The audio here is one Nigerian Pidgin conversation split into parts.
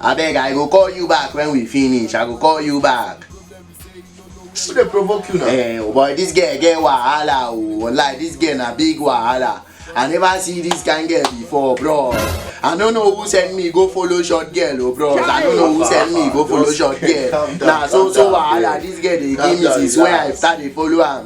abeg i go call you back when we finish i go call you back who dey provoke you now. eh oh boy this girl get wahala oh wallahi this girl na big wahala i never see this kind girl before bro i no know who send me go follow short girl oh bro i no know who send me go follow short girl Calm down, na so calm so down, wahala babe. this girl dey Calm give me down, since when i relax. start dey follow am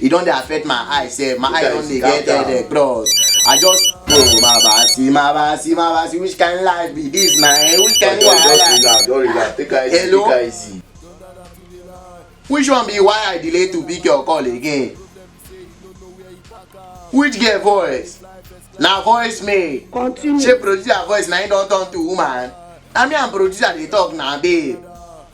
e don dey affect my eye sef my eye don dey get headache bros i just oh my basi my basi my basi which kind life be this na eh which kind wahala hello which one be why i delay to pick your call again which girl voice na voice me shey producer voice na him don turn to woman na me and producer dey talk na babe